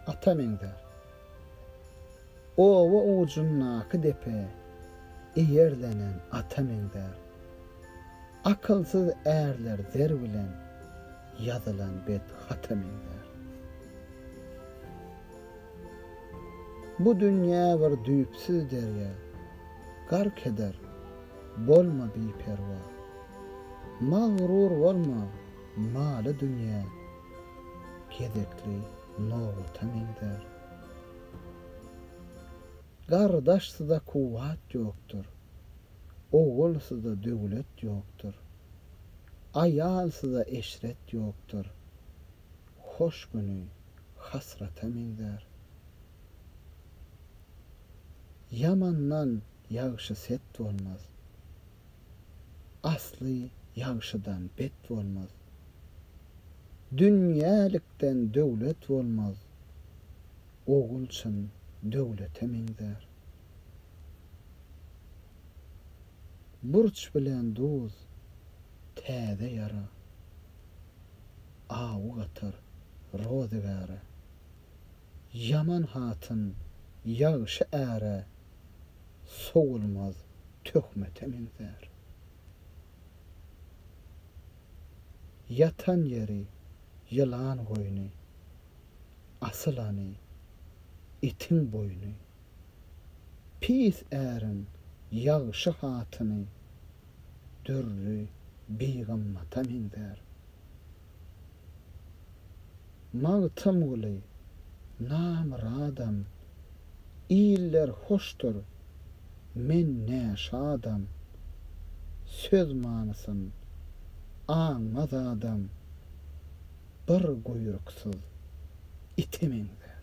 Ata meňzär. Oba ujundaky depe eýerlenen ata meňzär. Akylsyz ärler zer bilen ýazylan bet hata meňzär. Bu dünýä bir düýpsüz derýa, gark eder, bolma biperwa. Magryur bolma, Maly dünýä gezekli nobata meňzär. Gardaşsyza kuwwat ýokdur. Ogulsyza döwlet ýokdur. Aýalsyza eşret ýokdur. Hoş güni hasrata meňzär. Ýamandan ýagşy-set bolmaz. Asly ýagşydan bet bolmaz. Dünýälikden döwlet bolmaz. Ogul çyn döwlete meňzär. Burç bilen duz, täze ýara. Awy gatar rozygäre. Ýaman hatyn ýagşy äre sowulmaz töhmete meňzär. Ýatan ýeri ýylan goýny, asylany itiň boýny. Pis äriň ýagşy hatyny dürri bigymmata meňzär. Magtymguly, Namyradam, Iller hoşdur, men ne şadam, Söz manysyn aňmaz adam, Bir guýruksyz ite meňzär.